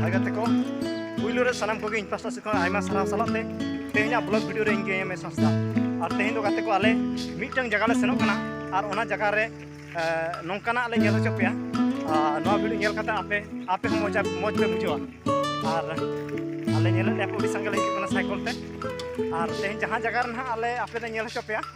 ᱵᱷᱟᱭ ᱜᱟᱛᱮ ᱠᱚ ᱯᱩᱭᱞᱩ ᱨᱮ ᱥᱟᱱᱟᱢ ᱠᱚᱜᱮ ᱤᱧ ᱯᱟᱥᱴᱟ ᱥᱮᱫ ᱠᱷᱚᱱ ᱟᱭᱢᱟ ᱥᱟᱨᱦᱟᱣ ᱥᱟᱞᱟᱜ ᱛᱮ ᱛᱮᱦᱮᱧᱟᱜ ᱵᱞᱚᱜ ᱵᱷᱤᱰᱤᱭᱳ ᱨᱮ ᱤᱧ ᱜᱮ ᱮᱢ ᱮ ᱥᱟᱥᱛᱟ ᱟᱨ ᱛᱮᱦᱮᱧ ᱫᱚ ᱜᱟᱛᱮ ᱠᱚ ᱟᱞᱮ ᱢᱤᱫᱴᱟᱝ ᱡᱟᱭᱜᱟ ᱞᱮ ᱥᱮᱱᱚᱜ ᱠᱟᱱᱟ ᱟᱨ ᱚᱱᱟ ᱡᱟᱭᱜᱟ ᱨᱮ ᱱᱚᱝᱠᱟᱱᱟᱜ ᱞᱮ ᱧᱮᱞ ᱦᱚᱪᱚ ᱯᱮᱭᱟ ᱱᱚᱣᱟ ᱵᱷᱤᱰᱤᱭᱳ ᱧᱮᱞ ᱠᱟᱛᱮ ᱟᱯᱮ ᱟᱯᱮ ᱦᱚᱸ ᱢᱚᱡᱟ ᱢᱚᱡᱽ ᱯᱮ ᱵᱩᱡᱷᱟᱹᱣᱟ ᱟᱨ ᱟᱞᱮ ᱧᱮᱞᱮᱫ ᱞᱮᱭᱟ ᱠᱚ ᱟᱹᱰᱤ ᱥᱟᱸᱜᱮ ᱞᱮ ᱦᱤᱡᱩᱜ ᱠᱟᱱᱟ ᱥᱟᱭᱠᱚᱞ ᱛᱮ ᱟᱨ ᱛᱮᱦᱮᱧ ᱡᱟᱦᱟᱸ ᱡᱟᱭᱜᱟ ᱨᱮ ᱱᱟᱦᱟᱜ ᱟᱞᱮ ᱟᱯᱮ ᱞᱮ ᱧᱮᱞ ᱦᱚᱪᱚ ᱯᱮᱭᱟ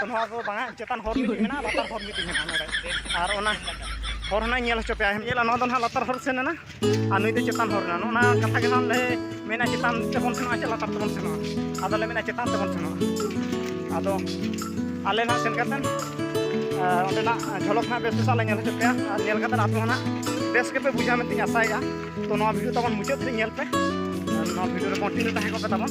ᱛᱚ ᱱᱚᱣᱟ ᱫᱚ ᱵᱟᱝᱟ ᱪᱮᱛᱟᱱ ᱦᱚᱨ ᱢᱤᱫᱴᱤᱡ ᱢᱮᱱᱟᱜᱼᱟ ᱞᱟᱛᱟᱨ ᱦᱚᱨ ᱢᱤᱫᱴᱤᱡ ᱢᱮᱱᱟᱜᱼᱟ ᱱᱚᱰᱮ ᱟᱨ ᱚᱱᱟ ᱦᱚᱨ ᱦᱚᱸ ᱧᱮᱞ ᱦᱚᱪᱚ ᱯᱮᱭᱟ ᱧᱮᱞᱟ ᱱᱚᱣᱟ ᱫᱚ ᱱᱟᱦᱟᱜ ᱞᱟᱛᱟᱨ ᱦᱚᱨ ᱥᱮᱱ ᱮᱱᱟ ᱟᱨ ᱱᱩᱭ ᱫᱚ ᱪᱮᱛᱟᱱ ᱦᱚᱨ ᱨᱮᱱᱟᱜ ᱚᱱᱟ ᱠᱟᱛᱷᱟ ᱜᱮ ᱱᱟᱦᱟᱜ ᱞᱮ ᱢᱮᱱᱟ ᱪᱮᱛᱟᱱ ᱛᱮᱵᱚᱱ ᱥᱮᱱᱚᱜᱼᱟ ᱪᱮ ᱞᱟᱛᱟᱨ ᱛᱮᱵᱚᱱ ᱥᱮᱱᱚᱜᱼᱟ ᱟᱫᱚ ᱞᱮ ᱢᱮᱱᱟ ᱪᱮᱛᱟᱱ ᱛᱮᱵᱚᱱ ᱥᱮᱱᱚᱜᱼᱟ ᱟᱫᱚ ᱟᱞᱮ ᱱᱟᱦᱟᱜ ᱥᱮᱱ ᱠᱟᱛᱮᱫ ᱚᱸᱰᱮᱱᱟᱜ ᱡᱷᱚᱞᱚᱠ ᱱᱟᱦᱟᱜ ᱵᱮᱥ ᱵᱮᱥᱟᱜ ᱞᱮ ᱧᱮᱞ ᱦᱚᱪᱚ ᱯᱮᱭᱟ ᱟᱨ ᱧᱮᱞ ᱠᱟᱛᱮᱫ ᱟᱯᱮ ᱦᱚᱸ ᱱᱟᱦᱟᱜ ᱵᱮᱥ ᱜᱮᱯᱮ ᱵᱩᱡᱷᱟᱹᱣ ᱢᱮᱱᱛᱮᱧ ᱟᱥᱟᱭᱮᱫᱼᱟ ᱛᱚ ᱱᱚᱣᱟ ᱵᱷᱤᱰᱤᱭᱳ ᱛᱟᱵᱚᱱ ᱢᱩᱪᱟᱹᱫ ᱫᱷᱟᱹᱨᱤᱡ ᱧᱮᱞ ᱯᱮ ᱱᱚᱣᱟ ᱵᱷᱤᱰᱤᱭᱳ ᱨᱮ ᱠᱚᱱᱴᱤᱱᱤᱭᱩ ᱛᱟᱦᱮᱸ ᱠᱚᱜ ᱯᱮ ᱛᱟᱵᱚᱱ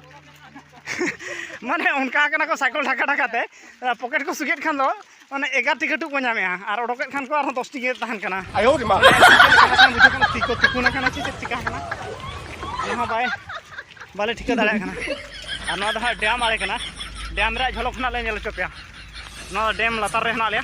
ᱢᱟᱱᱮ ᱚᱱᱠᱟ ᱠᱟᱱᱟ ᱠᱚ ᱥᱟᱭᱠᱮᱞ ᱰᱷᱟᱠᱟ ᱰᱷᱟᱠᱟ ᱛᱮ ᱯᱚᱠᱮᱴ ᱠᱚ ᱥᱩᱜᱮᱫ ᱠᱷᱟᱱ ᱫᱚ ᱢᱟᱱᱮ ᱮᱜᱟᱨᱴᱤ ᱠᱟᱹᱴᱩᱵ ᱠᱚ ᱧᱟᱢᱮᱜᱼᱟ ᱟᱨ ᱚᱰᱚᱠᱮᱫ ᱠᱷᱟᱱ ᱠᱚ ᱟᱨᱦᱚᱸ ᱫᱚᱥᱴᱤ ᱜᱮ ᱛᱟᱦᱮᱱ ᱠᱟᱱᱟ ᱟᱭᱳ ᱨᱮ ᱢᱟ ᱛᱤ ᱠᱚ ᱛᱩᱠᱩᱱ ᱟᱠᱟᱱᱟ ᱪᱮᱫ ᱪᱮᱫ ᱪᱤᱠᱟ ᱟᱠᱟᱱᱟ ᱚᱱᱟ ᱦᱚᱸ ᱵᱟᱭ ᱵᱟᱞᱮ ᱴᱷᱤᱠᱟᱹ ᱫᱟᱲᱮᱭᱟᱜ ᱠᱟᱱᱟ ᱟᱨ ᱱᱚᱣᱟ ᱫᱚ ᱦᱟᱸᱜ ᱰᱮᱢ ᱟᱲᱮ ᱠᱟᱱᱟ ᱰᱮᱢ ᱨᱮᱭᱟᱜ ᱡᱷᱚᱞᱚᱠ ᱦᱚᱸ ᱦᱟᱸᱜ ᱞᱮ ᱧᱮᱞ ᱦᱚᱪᱚ ᱯᱮᱭᱟ ᱱᱚᱣᱟ ᱰᱮᱢ ᱞᱟᱛᱟᱨ ᱨᱮ ᱦᱮᱱᱟᱜ ᱞᱮᱭᱟ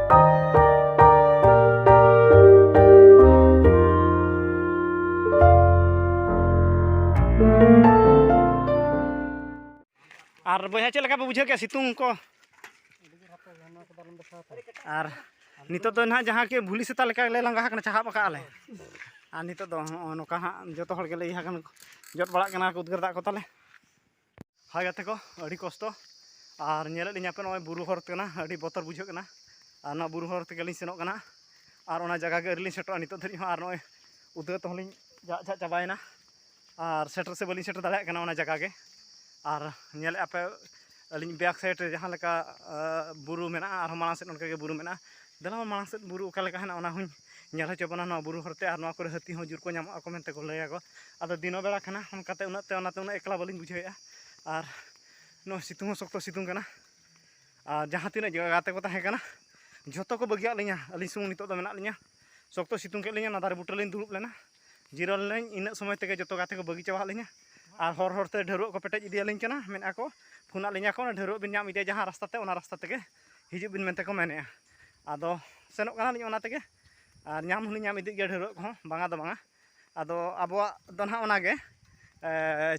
ᱟᱨ ᱵᱚᱭᱦᱟ ᱪᱮᱫ ᱞᱮᱠᱟ ᱯᱮ ᱵᱩᱡᱷᱟᱹᱣ ᱠᱮᱫᱟ ᱥᱤᱛᱩᱝ ᱠᱚ ᱟᱨ ᱱᱤᱛᱚᱜ ᱫᱚ ᱱᱟᱦᱟᱜ ᱡᱟᱦᱟᱸ ᱠᱤ ᱵᱷᱩᱞᱤ ᱥᱮᱛᱟ ᱞᱮᱠᱟ ᱞᱮ ᱞᱟᱸᱜᱟ ᱟᱠᱟᱱᱟ ᱪᱟᱦᱟᱵ ᱟᱠᱟᱫ ᱟᱞᱮ ᱟᱨ ᱱᱤᱛᱚᱜ ᱫᱚ ᱱᱚᱜᱼᱚ ᱱᱚᱝᱠᱟ ᱦᱟᱸᱜ ᱡᱚᱛᱚ ᱦᱚᱲ ᱜᱮᱞᱮ ᱤᱭᱟᱹ ᱟᱠᱟᱱᱟ ᱡᱚᱫ ᱵᱟᱲᱟᱜ ᱠᱟᱱᱟ ᱩᱫᱽᱜᱟᱹᱨ ᱫᱟᱜ ᱠᱚ ᱛᱟᱞᱮ ᱦᱟᱭ ᱜᱟᱛᱮ ᱠᱚ ᱟᱹᱰᱤ ᱠᱚᱥᱴᱚ ᱟᱨ ᱧᱮᱞᱮᱫ ᱞᱤᱧ ᱟᱯᱮ ᱱᱚᱜᱼᱚᱭ ᱵᱩᱨᱩ ᱦᱚᱨ ᱠᱟᱱᱟ ᱟᱹᱰᱤ ᱵᱚᱛᱚᱨ ᱵᱩᱡᱷᱟᱹᱜ ᱠᱟᱱᱟ ᱟᱨ ᱱᱚᱣᱟ ᱵᱩᱨᱩ ᱦᱚᱨ ᱛᱮᱜᱮ ᱞᱤᱧ ᱥᱮᱱᱚᱜ ᱠᱟᱱᱟ ᱟᱨ ᱚᱱᱟ ᱡᱟᱭᱜᱟ ᱜᱮ ᱟᱹᱣᱨᱤ ᱞᱤᱧ ᱥᱮᱴᱮᱨᱚᱜᱼᱟ ᱱᱤᱛᱚᱜ ᱫᱷᱟᱹᱨᱤᱡ ᱦᱚᱸ ᱟᱨ ᱱᱚᱜᱼᱚᱭ ᱩᱫᱽᱜᱟᱹᱣ ᱛᱮᱦᱚᱸ ᱞᱤᱧ ᱡᱟᱜ ᱡᱟᱜ ᱪᱟᱵᱟᱭᱮᱱᱟ ᱟᱨ ᱥᱮᱴᱮᱨ ᱥᱮ ᱵᱟᱹᱞᱤᱧ ᱥᱮᱴᱮᱨ ᱫᱟᱲᱮᱭᱟᱜ ᱠᱟᱱᱟ ᱚᱱᱟ ᱡᱟᱭᱜᱟ ᱜᱮ ᱟᱨ ᱧᱮᱞᱮᱫ ᱟᱯᱮ ᱟᱹᱞᱤᱧ ᱵᱮᱠ ᱥᱟᱭᱤᱰ ᱨᱮ ᱡᱟᱦᱟᱸ ᱞᱮᱠᱟ ᱵᱩᱨᱩ ᱢᱮᱱᱟᱜᱼᱟ ᱟᱨᱦᱚᱸ ᱢᱟᱲᱟᱝ ᱥᱮᱫ ᱚᱱᱠᱟᱜᱮ ᱵᱩᱨᱩ ᱢᱮᱱᱟᱜᱼᱟ ᱫᱮᱞᱟ ᱢᱟᱲᱟᱝ ᱥᱮᱫ ᱵᱩᱨᱩ ᱚᱠᱟ ᱞᱮᱠᱟ ᱦᱮᱱᱟᱜ ᱚᱱᱟ ᱦᱚᱸᱧ ᱧᱮᱞ ᱦᱚᱪᱚ ᱵᱚᱱᱟ ᱱᱚᱣᱟ ᱵᱩᱨᱩ ᱦᱚᱨᱛᱮ ᱟᱨ ᱱᱚᱣᱟ ᱠᱚᱨᱮ ᱦᱟᱹᱛᱤ ᱦᱚᱸ ᱡᱳᱨ ᱠᱚ ᱧᱟᱢᱚᱜ ᱟᱠᱚ ᱢᱮᱱᱛᱮ ᱠᱚ ᱞᱟᱹᱭᱟᱠᱚ ᱟᱫᱚ ᱫᱤᱱᱚ ᱵᱮᱲᱟ ᱠᱟᱱᱟ ᱚᱱᱠᱟᱛᱮ ᱩᱱᱟᱹᱜ ᱛᱮ ᱚᱱᱟᱛᱮ ᱩᱱᱟᱹᱜ ᱮᱠᱞᱟ ᱵᱟᱹᱞᱤᱧ ᱵᱩᱡᱷᱟᱹᱣᱮᱫᱼᱟ ᱟᱨ ᱱᱚᱜᱼᱚᱭ ᱥᱤᱛᱩᱝ ᱦᱚᱸ ᱥᱚᱠᱛᱚ ᱥᱤᱛᱩᱝ ᱠᱟᱱᱟ ᱟᱨ ᱡᱟᱦᱟᱸ ᱛᱤᱱᱟᱹᱜ ᱜᱟᱛᱮ ᱠᱚ ᱛᱟᱦᱮᱸ ᱠᱟᱱᱟ ᱡᱷᱚᱛᱚ ᱠᱚ ᱵᱟᱹᱜᱤᱭᱟᱫ ᱞᱤᱧᱟ ᱟᱹᱞᱤᱧ ᱥᱩᱢᱩᱝ ᱱᱤᱛᱚᱜ ᱫᱚ ᱢᱮᱱᱟᱜ ᱞᱤᱧᱟ ᱥᱚᱠᱛᱚ ᱥᱤᱛᱩᱝ ᱠᱮᱫ ᱞᱤᱧᱟ ᱚᱱᱟ ᱫᱟᱨᱮ ᱵᱩᱴᱟᱹ ᱞᱤᱧ ᱫᱩᱲᱩᱵ ᱞᱮᱱᱟ ᱡᱤᱨᱟᱹᱣ ᱞᱮᱱᱟᱹᱧ ᱤᱱᱟᱹᱜ ᱥᱚᱢᱚᱭ ᱛᱮᱜᱮ ᱡᱚᱛᱚ ᱜᱟᱛᱮ ᱠᱚ ᱵᱟᱹᱜᱤ ᱪᱟᱵᱟᱫ ᱞᱤᱧᱟ ᱟᱨ ᱦᱚᱨ ᱦᱚᱨᱛᱮ ᱰᱷᱟᱹᱨᱣᱟᱹᱜ ᱠᱚ ᱯᱮᱴᱮᱡ ᱤᱫᱤᱭᱟᱞᱤᱧ ᱠᱟᱱᱟ ᱢᱮᱱᱮᱫᱼᱟ ᱠᱚ ᱯᱷᱳᱱᱟᱫ ᱞᱤᱧᱟ ᱠᱚ ᱰᱷᱟᱹᱨᱣᱟᱹᱜ ᱵᱤᱱ ᱧᱟᱢ ᱤᱫᱤᱭᱟ ᱡᱟᱦᱟᱸ ᱨᱟᱥᱛᱟ ᱛᱮ ᱚᱱᱟ ᱨᱟᱥᱛᱟ ᱛᱮᱜᱮ ᱦᱤᱡᱩᱜ ᱵᱤᱱ ᱢᱮᱱᱛᱮ ᱠᱚ ᱢᱮᱱᱮᱜᱼᱟ ᱟᱫᱚ ᱥᱮᱱᱚᱜ ᱠᱟᱱᱟᱞᱤᱧ ᱚᱱᱟ ᱛᱮᱜᱮ ᱟᱨ ᱧᱟᱢ ᱦᱚᱸᱞᱤᱧ ᱧᱟᱢ ᱤᱫᱤᱜ ᱜᱮᱭᱟ ᱰᱷᱟᱹᱨᱣᱟᱹᱜ ᱠᱚᱦᱚᱸ ᱵᱟᱝᱟ ᱫᱚ ᱵᱟᱝᱟ ᱟᱫᱚ ᱟᱵᱚᱣᱟᱜ ᱫᱚ ᱱᱟᱦᱟᱜ ᱚᱱᱟᱜᱮ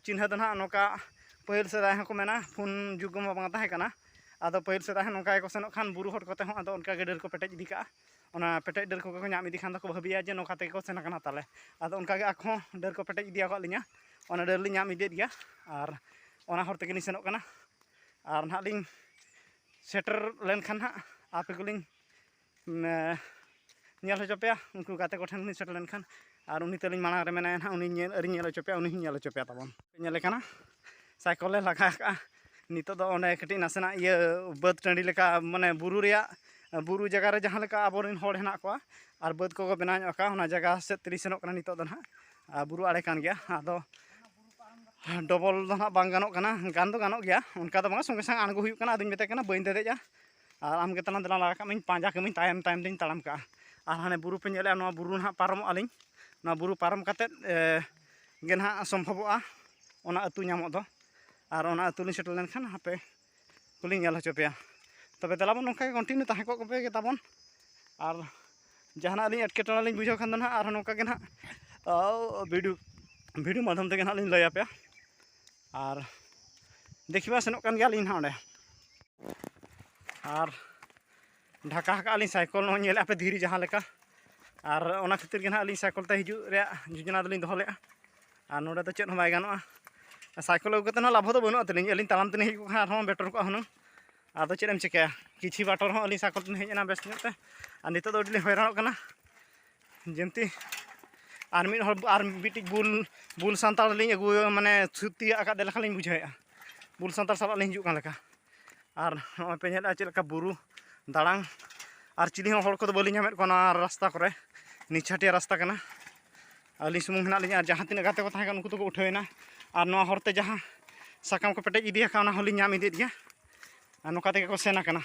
ᱪᱤᱱᱦᱟᱹ ᱫᱚ ᱱᱟᱦᱟᱜ ᱱᱚᱝᱠᱟ ᱯᱟᱹᱦᱤᱞ ᱥᱮᱫᱟᱭ ᱦᱚᱸᱠᱚ ᱢᱮᱱᱟ ᱯᱷᱳᱱ ᱡᱩᱜᱽ ᱢᱟ ᱵᱟᱝ ᱛᱟᱦᱮᱸ ᱠᱟᱱᱟ ᱟᱫᱚ ᱯᱟᱹᱦᱤᱞ ᱥᱮᱫᱟᱭ ᱦᱚᱸ ᱱᱚᱝᱠᱟ ᱜᱮᱠᱚ ᱥᱮᱱᱚᱜ ᱠᱷᱟᱱ ᱵᱩᱨᱩ ᱦᱚᱨ ᱠᱚᱛᱮ ᱦᱚᱸ ᱟᱫᱚ ᱚᱱᱠᱟ ᱜᱮ ᱰᱟᱹᱨ ᱠᱚ ᱯᱮᱴᱮᱡ ᱤᱫᱤ ᱠᱟᱜᱼᱟ ᱚᱱᱟ ᱯᱮᱴᱮᱡ ᱰᱟᱹᱨ ᱠᱚᱜᱮ ᱠᱚ ᱧᱟᱢ ᱤᱫᱤ ᱠᱷᱟᱱ ᱫᱚᱠᱚ ᱵᱷᱟᱹᱵᱤᱭᱟ ᱡᱮ ᱱᱚᱝᱠᱟ ᱛᱮᱜᱮ ᱠᱚ ᱥᱮᱱ ᱠᱟᱱᱟ ᱛᱟᱞᱮ ᱟᱫᱚ ᱚᱱᱠᱟ ᱜᱮ ᱟᱠᱚ ᱦᱚᱸ ᱰᱟᱹᱨ ᱠᱚ ᱯᱮᱴᱮᱡ ᱤᱫᱤᱭᱟᱠᱟᱫ ᱞᱤᱧᱟᱹ ᱚᱱᱟ ᱰᱟᱹᱨ ᱞᱤᱧ ᱧᱟᱢ ᱤᱫᱤᱭᱮᱫ ᱜᱮᱭᱟ ᱟᱨ ᱚᱱᱟ ᱦᱚᱨ ᱛᱮᱜᱮᱞᱤᱧ ᱥᱮᱱᱚᱜ ᱠᱟᱱᱟ ᱟᱨ ᱱᱟᱦᱟᱜ ᱞᱤᱧ ᱥᱮᱴᱮᱨ ᱞᱮᱱᱠᱷᱟᱱ ᱦᱟᱸᱜ ᱟᱯᱮ ᱠᱚᱞᱤᱧ ᱧᱮᱞ ᱦᱚᱪᱚ ᱯᱮᱭᱟ ᱩᱱᱠᱩ ᱜᱟᱛᱮ ᱠᱚᱴᱷᱮᱱ ᱞᱤᱧ ᱥᱮᱴᱮᱨ ᱞᱮᱱᱠᱷᱟᱱ ᱟᱨ ᱩᱱᱤ ᱛᱟᱹᱞᱤᱧ ᱢᱟᱲᱟᱝ ᱨᱮ ᱢᱮᱱᱟᱭᱟ ᱦᱟᱸᱜ ᱩᱱᱤ ᱧᱮᱞ ᱟᱹᱣᱨᱤᱧ ᱧᱮᱞ ᱦᱚᱪᱚ ᱯᱮᱭᱟ ᱩᱱᱤ ᱦᱚᱸᱧ ᱧᱮᱞ ᱦᱚᱪᱚ ᱯᱮᱭᱟ ᱛᱟᱵᱚᱱ ᱧᱮᱞᱮ ᱠᱟᱱᱟ ᱥᱟᱭᱠᱮᱞ ᱮ ᱞᱟᱜᱟ ᱟᱠᱟᱫᱼᱟ ᱱᱤᱛᱚᱜ ᱫᱚ ᱚᱸᱰᱮ ᱠᱟᱹᱴᱤᱡ ᱱᱟᱥᱮᱱᱟᱜ ᱤᱭᱟᱹ ᱵᱟᱹᱫᱽ ᱴᱟᱺᱰᱤ ᱞᱮᱠᱟ ᱢᱟᱱᱮ ᱵᱩᱨᱩ ᱨᱮᱭᱟᱜ ᱵᱩᱨᱩ ᱡᱟᱭᱜᱟ ᱨᱮ ᱡᱟᱦᱟᱸ ᱞᱮᱠᱟ ᱟᱵᱚ ᱨᱮᱱ ᱦᱚᱲ ᱦᱮᱱᱟᱜ ᱠᱚᱣᱟ ᱟᱨ ᱵᱟᱹᱫᱽ ᱠᱚᱠᱚ ᱵᱮᱱᱟᱣ ᱧᱚᱜ ᱠᱟᱜᱼᱟ ᱚᱱᱟ ᱡᱟᱭᱜᱟ ᱥᱮᱫ ᱛᱮᱞᱤᱧ ᱥᱮᱱᱚᱜ ᱠᱟᱱᱟ ᱱᱤᱛᱚᱜ ᱫᱚ ᱦᱟᱸᱜ ᱟᱨ ᱵᱩᱨᱩ ᱟᱲᱮ ᱠᱟᱱ ᱜᱮᱭᱟ ᱟᱫᱚ ᱰᱚᱵᱚᱞ ᱫᱚ ᱱᱟᱦᱟᱜ ᱵᱟᱝ ᱜᱟᱱᱚᱜ ᱠᱟᱱᱟ ᱜᱟᱱ ᱫᱚ ᱜᱟᱱᱚᱜ ᱜᱮᱭᱟ ᱚᱱᱠᱟ ᱫᱚ ᱵᱟᱝ ᱥᱚᱸᱜᱮ ᱥᱟᱝ ᱟᱬᱜᱚ ᱦᱩᱭᱩᱜ ᱠᱟᱱᱟ ᱟᱫᱚᱧ ᱢᱮᱛᱟᱭ ᱠᱟᱱᱟ ᱵᱟᱹᱧ ᱫᱮᱡᱚᱜᱼᱟ ᱟᱨ ᱟᱢᱜᱮ ᱛᱟᱞᱟᱝ ᱫᱮᱞᱟ ᱞᱟᱜᱟ ᱠᱟᱜ ᱢᱮᱧ ᱯᱟᱸᱡᱟ ᱠᱟᱹᱢᱤᱧ ᱛᱟᱭᱚᱢ ᱛᱟᱭᱚᱢ ᱛᱤᱧ ᱛᱟᱲᱟᱢ ᱠᱟᱜᱼᱟ ᱟᱨ ᱦᱟᱱᱮ ᱵᱩᱨᱩ ᱯᱮ ᱧᱮᱞᱮᱜᱼᱟ ᱱᱚᱣᱟ ᱵᱩᱨᱩ ᱱᱟᱦᱟᱜ ᱯᱟᱨᱚᱢᱚᱜᱼᱟ ᱞᱤᱧ ᱱᱚᱣᱟ ᱵᱩᱨᱩ ᱯᱟᱨᱚᱢ ᱠᱟᱛᱮᱫ ᱜᱮ ᱱᱟᱦᱟᱜ ᱥᱚᱢᱵᱷᱚᱵᱚᱜᱼᱟ ᱚᱱᱟ ᱟᱹᱛᱩ ᱧᱟᱢᱚᱜ ᱫᱚ ᱟᱨ ᱚᱱᱟ ᱟᱹᱛᱩ ᱞᱤᱧ ᱥᱮᱴᱮᱨ ᱞᱮᱱᱠᱷᱟᱱ ᱦᱟᱯᱮ ᱠᱚᱞᱤᱧ ᱧᱮᱞ ᱦᱚᱪᱚ ᱯᱮᱭᱟ ᱛᱚᱵᱮ ᱫᱮᱞᱟᱵᱚᱱ ᱱᱚᱝᱠᱟ ᱜᱮ ᱠᱚᱱᱴᱤᱱᱤᱭᱩ ᱛᱟᱦᱮᱸ ᱠᱚᱜ ᱯᱮ ᱛᱟᱵᱚᱱ ᱟᱨ ᱡᱟᱦᱟᱱᱟᱜ ᱞᱤᱧ ᱮᱴᱠᱮᱴᱚᱬᱮ ᱞᱤᱧ ᱵᱩᱡᱷᱟᱹᱣ ᱠᱷᱟᱱ ᱫᱚ ᱱᱟᱦᱟᱜ ᱟᱨᱦᱚᱸ ᱱᱚᱝᱠᱟ ᱜᱮ ᱱᱟᱦᱟᱜ ᱵᱷᱤᱰᱤᱭᱳ ᱵᱷᱤᱰᱤᱭᱳ ᱢᱟᱫᱽᱫᱷᱚᱢ ᱛᱮᱜᱮ ᱱᱟᱦᱟᱜ ᱞᱤᱧ ᱞᱟᱹᱭ ᱟᱯᱮᱭᱟ ᱟᱨ ᱫᱮᱠᱷᱤ ᱢᱟ ᱥᱮᱱᱚᱜ ᱠᱟᱱ ᱜᱮᱭᱟᱞᱤᱧ ᱱᱟᱦᱟᱜ ᱚᱸᱰᱮ ᱟᱨ ᱰᱷᱟᱠᱟ ᱟᱠᱟᱫ ᱟᱹᱞᱤᱧ ᱥᱟᱭᱠᱚᱞ ᱱᱚᱜᱼᱚᱭ ᱧᱮᱞᱮᱫᱼᱟ ᱯᱮ ᱫᱷᱤᱨᱤ ᱡᱟᱦᱟᱸ ᱞᱮᱠᱟ ᱟᱨ ᱚᱱᱟ ᱠᱷᱟᱹᱛᱤᱨ ᱜᱮ ᱱᱟᱦᱟᱜ ᱟᱹᱞᱤᱧ ᱥᱟᱭᱠᱚᱞ ᱛᱮ ᱦᱤᱡᱩᱜ ᱨᱮᱭᱟᱜ ᱡᱳᱡᱚᱱᱟ ᱫᱚᱞᱤᱧ ᱫᱚᱦᱚ ᱞᱮᱫᱼᱟ ᱟᱨ ᱱᱚᱰᱮ ᱫᱚ ᱪᱮᱫ ᱦᱚᱸ ᱵᱟᱭ ᱜᱟᱱᱚᱜᱼᱟ ᱥᱟᱭᱠᱚᱞ ᱟᱹᱜᱩ ᱠᱟᱛᱮᱫ ᱦᱚᱸ ᱞᱟᱵᱷ ᱫᱚ ᱵᱟᱹᱱᱩᱜᱼᱟ ᱛᱟᱹᱞᱤᱧ ᱟᱹᱞᱤᱧ ᱛᱟᱲᱟᱢ ᱛᱮᱞᱤᱧ ᱦᱮᱡ ᱠᱚᱜ ᱠᱷᱟᱱ ᱟᱨᱦᱚᱸ ᱵᱮᱴᱚᱨ ᱠᱚᱜᱼᱟ ᱦᱩᱱᱟᱹᱝ ᱟᱫᱚ ᱪᱮᱫ ᱮᱢ ᱪᱤᱠᱟᱹᱭᱟ ᱠᱤᱪᱷᱩ ᱵᱟᱴᱚᱨ ᱦᱚᱸ ᱟᱹᱞᱤᱧ ᱥᱟᱭᱠᱚᱞ ᱛᱮᱞᱤᱧ ᱦᱮᱡ ᱮᱱᱟ ᱵᱮᱥ ᱧᱚᱜ ᱛᱮ ᱟᱨ ᱱᱤᱛᱚᱜ ᱫᱚ ᱟᱹᱰᱤ ᱞᱤᱧ ᱦᱚᱭᱨᱟᱱᱚᱜ ᱠᱟᱱᱟ ᱡᱮᱢᱛᱤ ᱟᱨ ᱢᱤᱫ ᱦᱚᱲ ᱟᱨ ᱢᱤᱫᱴᱤᱡ ᱵᱩᱞ ᱵᱩᱞ ᱥᱟᱱᱛᱟᱲ ᱞᱤᱧ ᱟᱹᱜᱩ ᱢᱟᱱᱮ ᱥᱩᱫ ᱛᱤᱭᱟᱹᱜ ᱟᱠᱟᱫᱮ ᱞᱮᱠᱟ ᱞᱤᱧ ᱵᱩᱡᱷᱟᱹᱣᱮᱫᱼᱟ ᱵᱩᱞ ᱥᱟᱱᱛᱟᱲ ᱥᱟᱞᱟᱜ ᱞᱤᱧ ᱦᱤᱡᱩᱜ ᱠᱟᱱ ᱞᱮᱠᱟ ᱟᱨ ᱱᱚᱜᱼᱚᱭ ᱯᱮ ᱧᱮᱞᱮᱫᱼᱟ ᱪᱮᱫ ᱞᱮᱠᱟ ᱵᱩᱨᱩ ᱫᱟᱲᱟᱝ ᱟᱨ ᱪᱤᱞᱤ ᱦᱚᱸ ᱦᱚᱲ ᱠᱚᱫᱚ ᱵᱟᱹᱞᱤᱧ ᱧᱟᱢᱮᱫ ᱠᱚᱣᱟ ᱱᱚᱣᱟ ᱨᱟᱥᱛᱟ ᱠᱚᱨᱮ ᱱᱤᱪᱷᱟᱹᱴᱤᱭᱟᱹ ᱨᱟᱥᱛᱟ ᱠᱟᱱᱟ ᱟᱹᱞᱤᱧ ᱥᱩᱢᱩᱝ ᱦᱮᱱᱟᱜ ᱞᱤᱧᱟ ᱟᱨ ᱡᱟᱦᱟᱸ ᱛᱤᱱᱟᱹᱜ ᱜᱟᱛᱮ ᱠᱚ ᱛᱟᱦᱮᱸ ᱠᱟᱱᱟ ᱩᱱᱠᱩ ᱫᱚᱠᱚ ᱩᱴᱷᱟᱹᱣᱮᱱᱟ ᱟᱨ ᱱᱚᱣᱟ ᱦᱚᱨᱛᱮ ᱡᱟᱦᱟᱸ ᱥᱟᱠᱟᱢ ᱠᱚ ᱯᱮᱴᱮᱡ ᱤᱫᱤ ᱟᱠᱟᱫ ᱚᱱᱟ ᱦᱚᱸᱞᱤᱧ ᱧᱟᱢ ᱤᱫᱤᱭᱮᱫ ᱜᱮᱭᱟ ᱟᱨ ᱱᱚᱝᱠᱟ ᱛᱮᱜᱮ ᱠᱚ ᱥᱮᱱ ᱟᱠᱟᱱᱟ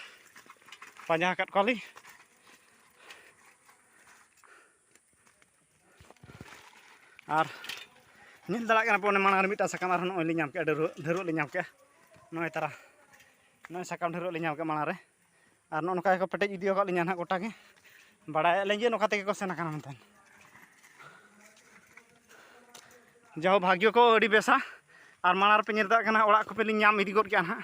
ᱯᱟᱸᱡᱟ ᱟᱠᱟᱫ ᱠᱚᱣᱟᱞᱤᱧ ᱟᱨ ᱧᱮᱞ ᱫᱟᱲᱮᱭᱟᱜ ᱠᱟᱱᱟ ᱯᱮ ᱚᱱᱮ ᱢᱟᱲᱟᱝ ᱨᱮ ᱢᱤᱫᱴᱟᱝ ᱥᱟᱠᱟᱢ ᱟᱨᱦᱚᱸ ᱱᱚᱜᱼᱚᱭ ᱞᱤᱧ ᱧᱟᱢ ᱠᱮᱜᱼᱟ ᱰᱷᱟᱹᱨᱣᱟᱹᱜ ᱞᱤᱧ ᱧᱟᱢ ᱠᱮᱜᱼᱟ ᱱᱚᱜᱼᱚᱭ ᱛᱟᱨᱟ ᱱᱚᱜᱼᱚᱭ ᱥᱟᱠᱟᱢ ᱰᱷᱟᱹᱨᱣᱟᱹᱜ ᱞᱤᱧ ᱧᱟᱢ ᱠᱮᱜᱼᱟ ᱢᱟᱲᱟᱝ ᱨᱮ ᱟᱨ ᱱᱚᱜᱼᱚ ᱱᱚᱝᱠᱟ ᱜᱮᱠᱚ ᱯᱮᱴᱮᱡ ᱤᱫᱤ ᱟᱠᱟᱫ ᱞᱤᱧᱟ ᱱᱟᱦᱟᱜ ᱜᱚᱴᱟ ᱜᱮ ᱵᱟᱲᱟᱭ ᱟᱹᱞᱤᱧ ᱡᱮ ᱱᱚᱝᱠᱟ ᱛᱮᱜᱮ ᱠᱚ ᱥᱮᱱ ᱟᱠᱟᱱᱟ ᱢᱮᱱᱛᱮ ᱡᱟᱦᱳ ᱵᱷᱟᱜᱽᱭᱚ ᱠᱚ ᱟᱹᱰᱤ ᱵᱮᱥᱟ ᱟᱨ ᱢᱟᱲᱟᱝ ᱨᱮᱯᱮ ᱧᱮᱞ ᱫᱟᱲᱮᱭᱟᱜ ᱠᱟᱱᱟ ᱚᱲᱟᱜ ᱠᱚᱯᱮ ᱞᱤᱧ ᱧᱟᱢ ᱤᱫᱤ ᱜᱚᱫ ᱠᱮᱜᱼᱟ ᱱᱟᱦᱟᱜ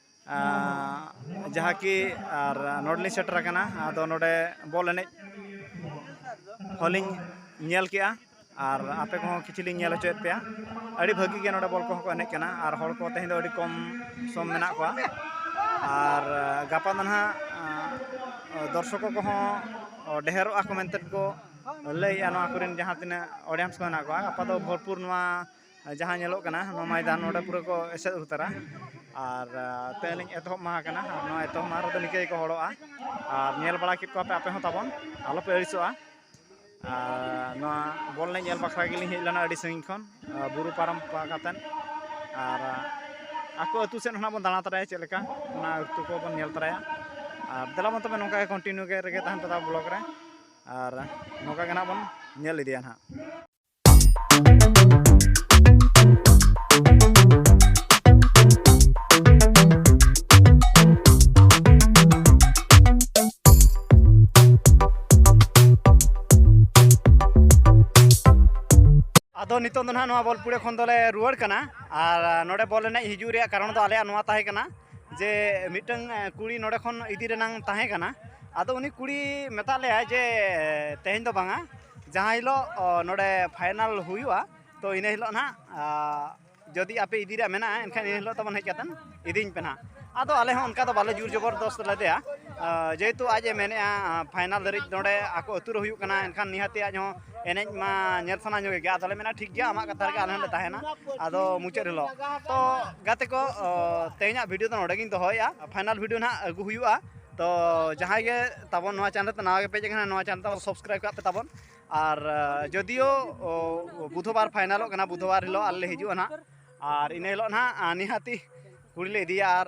ᱡᱟᱦᱟᱸ ᱠᱤ ᱟᱨ ᱱᱚᱰᱮ ᱞᱤᱧ ᱥᱮᱴᱮᱨ ᱟᱠᱟᱱᱟ ᱟᱫᱚ ᱱᱚᱰᱮ ᱵᱚᱞ ᱮᱱᱮᱡ ᱦᱚᱸᱞᱤᱧ ᱧᱮᱞ ᱠᱮᱜᱼᱟ ᱟᱨ ᱟᱯᱮ ᱠᱚᱦᱚᱸ ᱠᱤᱪᱷᱩ ᱞᱤᱧ ᱧᱮᱞ ᱦᱚᱪᱚᱭᱮᱫ ᱯᱮᱭᱟ ᱟᱹᱰᱤ ᱵᱷᱟᱹᱜᱤ ᱜᱮ ᱱᱚᱰᱮ ᱵᱚᱞ ᱠᱚᱦᱚᱸ ᱠᱚ ᱮᱱᱮᱡ ᱠᱟᱱᱟ ᱟᱨ ᱦᱚᱲ ᱠᱚ ᱛᱮᱦᱮᱧ ᱫᱚ ᱟᱹᱰᱤ ᱠᱚᱢ ᱥᱚᱢ ᱢᱮᱱᱟᱜ ᱠᱚᱣᱟ ᱟᱨ ᱜᱟᱯᱟ ᱫᱚ ᱱᱟᱦᱟᱜ ᱫᱚᱨᱥᱚᱠᱚ ᱠᱚᱦᱚᱸ ᱰᱷᱮᱨᱚᱜ ᱟᱠᱚ ᱢᱮᱱᱛᱮ ᱠᱚ ᱞᱟᱹᱭᱮᱜᱼᱟ ᱱᱚᱣᱟ ᱠᱚᱨᱮᱱ ᱡᱟᱦᱟᱸ ᱛᱤᱱᱟᱹᱜ ᱚᱰᱤᱭᱮᱱᱥ ᱠᱚ ᱢᱮᱱᱟᱜ ᱠᱚᱣᱟ ᱜᱟᱯᱟ ᱫᱚ ᱵᱷᱚᱨᱯᱩᱨ ᱱᱚᱣᱟ ᱡᱟᱦᱟᱸ ᱧᱮᱞᱚᱜ ᱠᱟᱱᱟ ᱱᱚᱣᱟ ᱢᱚᱭᱫᱟᱱ ᱱᱚᱰᱮ ᱯᱩᱨᱟᱹ ᱠᱚ ᱮᱥᱮᱫ ᱩᱛᱟᱹᱨᱟ ᱟᱨ ᱛᱮᱦᱮᱧ ᱞᱤᱧ ᱮᱛᱚᱦᱚᱵ ᱢᱟᱦᱟ ᱠᱟᱱᱟ ᱟᱨ ᱱᱚᱣᱟ ᱮᱛᱚᱦᱚᱵ ᱢᱟᱦᱟ ᱨᱮᱫᱚ ᱱᱤᱝᱠᱟᱹ ᱜᱮᱠᱚ ᱦᱚᱲᱚᱜᱼᱟ ᱟᱨ ᱧᱮᱞ ᱵᱟᱲᱟ ᱠᱮᱫ ᱠᱚᱣᱟᱯᱮ ᱟᱯᱮ ᱦᱚᱸ ᱛᱟᱵᱚᱱ ᱟᱞᱚᱯᱮ ᱟᱹᱲᱤᱥᱚᱜᱼᱟ ᱟᱨ ᱱᱚᱣᱟ ᱵᱚᱞ ᱮᱱᱮᱡ ᱧᱮᱞ ᱵᱟᱠᱷᱨᱟ ᱜᱮᱞᱤᱧ ᱦᱮᱡ ᱞᱮᱱᱟ ᱟᱹᱰᱤ ᱥᱟᱺᱜᱤᱧ ᱠᱷᱚᱱ ᱵᱩᱨᱩ ᱯᱟᱨᱚᱢ ᱠᱟᱛᱮᱫ ᱟᱨ ᱟᱠᱚ ᱟᱹᱛᱩ ᱥᱮᱫ ᱦᱚᱸ ᱵᱚᱱ ᱫᱟᱬᱟ ᱛᱚᱨᱟᱭᱟ ᱪᱮᱫ ᱞᱮᱠᱟ ᱚᱱᱟ ᱟᱹᱛᱩ ᱠᱚᱵᱚᱱ ᱧᱮᱞ ᱛᱚᱨᱟᱭᱟ ᱟᱨ ᱫᱮᱞᱟ ᱵᱚᱱ ᱛᱚᱵᱮ ᱱᱚᱝᱠᱟ ᱜᱮ ᱠᱚᱱᱴᱤᱱᱤᱭᱩ ᱜᱮ ᱨᱮᱜᱮ ᱛᱟᱦᱮᱱ ᱯᱮ ᱛᱟᱵᱚᱱ ᱵᱞᱚᱜᱽ ᱨᱮ ᱟᱨ ᱱᱚᱝᱠᱟ ᱜᱮ ᱱᱟᱦᱟᱜ ᱵᱚᱱ ᱧᱮᱞ ᱤᱫᱤᱭᱟ ᱱᱟᱦᱟᱜ ᱟᱫᱚ ᱱᱤᱛᱚᱜ ᱫᱚ ᱱᱟᱦᱟᱜ ᱱᱚᱣᱟ ᱵᱚᱞᱯᱩᱲᱮ ᱠᱷᱚᱱ ᱫᱚᱞᱮ ᱨᱩᱣᱟᱹᱲ ᱠᱟᱱᱟ ᱟᱨ ᱱᱚᱰᱮ ᱵᱚᱞ ᱮᱱᱮᱡ ᱦᱤᱡᱩᱜ ᱨᱮᱭᱟᱜ ᱠᱟᱨᱚᱱ ᱫᱚ ᱟᱞᱮᱭᱟᱜ ᱱᱚᱣᱟ ᱛᱟᱦᱮᱸ ᱠᱟᱱᱟ ᱡᱮ ᱢᱤᱫᱴᱟᱝ ᱠᱩᱲᱤ ᱱᱚᱰᱮ ᱠᱷᱚᱱ ᱤᱫᱤ ᱨᱮᱱᱟᱝ ᱛᱟᱦᱮᱸ ᱠᱟᱱᱟ ᱟᱫᱚ ᱩᱱᱤ ᱠᱩᱲᱤ ᱢᱮᱛᱟᱫ ᱞᱮᱭᱟᱭ ᱡᱮ ᱛᱮᱦᱮᱧ ᱫᱚ ᱵᱟᱝᱟ ᱡᱟᱦᱟᱸ ᱦᱤᱞᱳᱜ ᱱᱚᱰᱮ ᱯᱷᱟᱭᱱᱟᱞ ᱦᱩᱭᱩᱜᱼᱟ ᱛᱚ ᱤᱱᱟᱹ ᱦᱤᱞᱳᱜ ᱱᱟᱜ ᱡᱩᱫᱤ ᱟᱯᱮ ᱤᱫᱤ ᱨᱮᱭᱟᱜ ᱢᱮᱱᱟᱜᱼᱟ ᱮᱱᱠᱷᱟᱱ ᱤᱱᱟᱹ ᱦᱤᱞᱳᱜ ᱛᱟᱵᱚᱱ ᱦᱮᱡ ᱠᱟᱛᱮᱫ ᱤᱫᱤᱧ ᱯᱮ ᱱᱟᱜ ᱟᱫᱚ ᱟᱞᱮ ᱦᱚᱸ ᱚᱱᱠᱟ ᱫᱚ ᱵᱟᱞᱮ ᱡᱳᱨ ᱡᱚᱵᱚᱨᱫᱚᱥᱛ ᱞᱮᱫᱮᱭᱟ ᱡᱮᱦᱮᱛᱩ ᱟᱡ ᱮ ᱢᱮᱱᱮᱫᱼᱟ ᱯᱷᱟᱭᱱᱟᱞ ᱫᱷᱟᱹᱨᱤᱡ ᱱᱚᱰᱮ ᱟᱠᱚ ᱟᱹᱛᱩ ᱨᱮ ᱦᱩᱭᱩᱜ ᱠᱟᱱᱟ ᱮᱱᱠᱷᱟᱱ ᱱᱤᱦᱟᱹᱛᱤ ᱟᱡ ᱦᱚᱸ ᱮᱱᱮᱡ ᱢᱟ ᱧᱮᱞ ᱥᱟᱱᱟ ᱧᱚᱜᱮ ᱜᱮᱭᱟ ᱟᱫᱚᱞᱮ ᱢᱮᱱᱟ ᱴᱷᱤᱠ ᱜᱮᱭᱟ ᱟᱢᱟᱜ ᱠᱟᱛᱷᱟ ᱨᱮᱜᱮ ᱟᱞᱮ ᱦᱚᱸᱞᱮ ᱛᱟᱦᱮᱱᱟ ᱟᱫᱚ ᱢᱩᱪᱟᱹᱫ ᱦᱤᱞᱳᱜ ᱛᱚ ᱜᱟᱛᱮ ᱠᱚ ᱛᱮᱦᱮᱧᱟᱜ ᱵᱷᱤᱰᱤᱭᱳ ᱫᱚ ᱱᱚᱰᱮ ᱜᱤᱧ ᱫᱚᱦᱚᱭᱮᱫᱼᱟ ᱯᱷᱟᱭᱱᱟᱞ ᱵᱷᱤᱰᱤᱭᱳ ᱱᱟᱜ ᱟᱹᱜᱩ ᱦᱩᱭᱩᱜᱼᱟ ᱛᱚ ᱡᱟᱦᱟᱸᱭ ᱜᱮ ᱛᱟᱵᱚᱱ ᱱᱚᱣᱟ ᱪᱟᱱᱮᱞ ᱛᱮ ᱱᱟᱣᱟ ᱜᱮ ᱯᱮᱡ ᱟᱠᱟᱱᱟ ᱱᱚᱣᱟ ᱪᱟᱱᱮᱞ ᱛᱟᱵᱚᱱ ᱥᱟᱵᱥᱠᱨᱟᱭᱤᱵ ᱠᱟᱜ ᱯᱮ ᱛᱟᱵᱚᱱ ᱟᱨ ᱡᱚᱫᱤᱭᱳ ᱵᱩᱫᱷᱚᱵᱟᱨ ᱯᱷᱟᱭᱱᱟᱞᱚᱜ ᱠᱟᱱᱟ ᱵᱩᱫᱷᱚᱵᱟᱨ ᱦᱤᱞᱳᱜ ᱟᱞᱮ ᱞᱮ ᱦᱤᱡᱩᱜᱼᱟ ᱱᱟᱦᱟᱜ ᱟᱨ ᱤᱱᱟᱹ ᱦᱤᱞᱳᱜ ᱱᱟᱦᱟᱜ ᱱᱤᱦᱟᱹᱛᱤ ᱠᱩᱲᱤ ᱞᱮ ᱤᱫᱤᱭᱟ ᱟᱨ